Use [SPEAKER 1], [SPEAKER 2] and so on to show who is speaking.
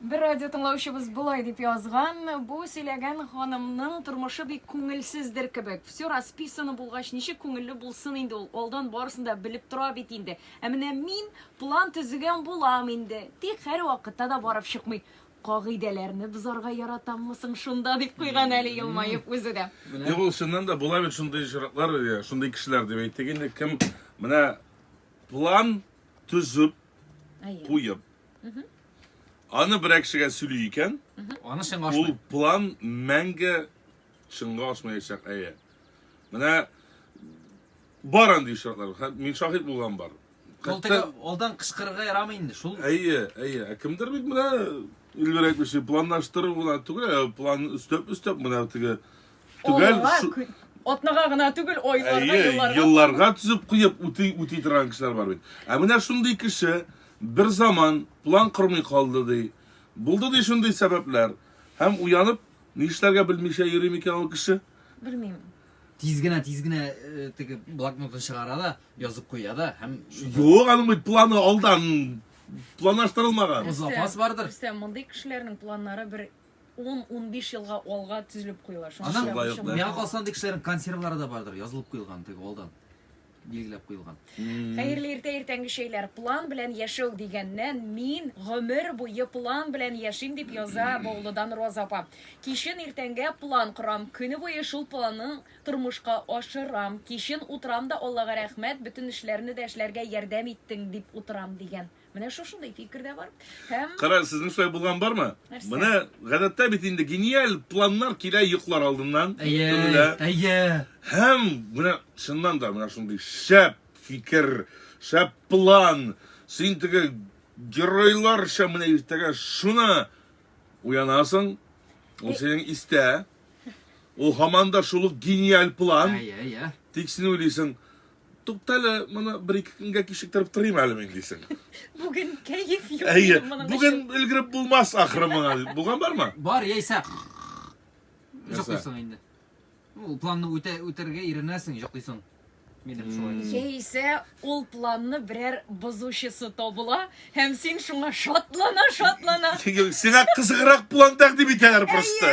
[SPEAKER 1] Бер радио тыңлаучыбыз болай дип язган, бу сөйләгән ханымның тормышы бик күңелсездер кебек. Все расписано булгач, ничек күңелле булсын инде ул? Алдан барысын да белеп тора бит инде. Ә менә мин план төзегән булам инде. Тик һәрвакытта да барып чыкмый. Кагыйдәләрне бозарга яратаммы соң шунда дип куйган әле елмаеп үзе дә. Юк, ул чыннан да була
[SPEAKER 2] бит шундый очраклар, иә, шундый кешеләр дип әйтик инде, кем менә план төзеп, Әйе. куеп, Аны берәр кешегә сөйли икән, Аны чынга ул ашмый.
[SPEAKER 3] план мәңге
[SPEAKER 2] чынга ашмаячак, әйе. Менә бар андый очраклар. Хә- Мин шаһит булган бар. Ул теге Хәтта-
[SPEAKER 3] алдан кычкырырга ярамый инде. Шул Әйе, әйе. Ә кемдер
[SPEAKER 2] бит менә Эльвир әйтмешли, планлаштыру гына түгел, ә план өстәп-өстәп менә теге Төгәл Олыга, шу- кө- атнага
[SPEAKER 1] гына түгел, айларга, Әйе, елларга. елларга түзеп куеп
[SPEAKER 2] үти үти торган кешеләр бар бит. Ә менә шундый кеше бер заман план кормый калды ди. Булды ди шундый сәбәпләр. Һәм уянып, нишләргә белмичә йөри микән ул кеше? Белмим.
[SPEAKER 1] Тиз генә,
[SPEAKER 3] тиз генә э, теге блокнотын чыгара да, язып куя да һәм Юк, аның бит
[SPEAKER 2] планы алдан планлаштырылмаган. Запас бардыр.
[SPEAKER 3] Рөстәм, мондый кешеләрнең
[SPEAKER 1] планнары бер 10-15 елга алга тезелеп куела. Шуңа Аның, шулай ук, миңа калса,
[SPEAKER 3] андый кешеләрнең консервлары да бардыр, язылып куелган, теге алдан билгеләп куелган. Хәерле иртә
[SPEAKER 1] иртәнге чәйләр. План белән яшәү дигәннән мин гомер буе план белән яшим, дип яза Баулыдан Роза апа. Кичен иртәнгә план корам, көне буе шул планны тормышка ашырам. Кичен утырам да Аллага рәхмәт, бөтен эшләрне дә эшләргә ярдәм иттең, дип утырам, дигән. Менә шушындый фикер дә бар. Һәм Кара, сезнең шулай булган
[SPEAKER 2] бармы? Нәрсә? Менә гадәттә
[SPEAKER 1] бит
[SPEAKER 2] инде гениаль планнар килә йоклар алдыннан. Әйе, Төнлә. әйе.
[SPEAKER 3] Һәм
[SPEAKER 2] менә чыннан да менә шундый шәп фикер, шәп план. Син теге геройларча менә иртәгә шуны уянасың. Ул синең истә. Ул һаман да шул ук гениаль план. Әйе, әйе. Тик син
[SPEAKER 3] уйлыйсың,
[SPEAKER 2] Туктале, моны бер-ике көнгә кичектереп торыйм әле мин дисең. Бүген
[SPEAKER 1] кәеф юк. Әйе, бүген
[SPEAKER 2] өлгереп
[SPEAKER 1] булмас
[SPEAKER 2] ахры моңа. Булган бармы? Бар, яисә җоклыйсың инде.
[SPEAKER 3] Ул планны үтә үтәргә иренәсең, җоклыйсың. Минем шулай. Яисә ул
[SPEAKER 1] планны берәр бозучысы табыла һәм син шуңа шатлана, шатлана.
[SPEAKER 2] Сиңа кызыграк план
[SPEAKER 1] тәкъдим
[SPEAKER 2] итәләр просто.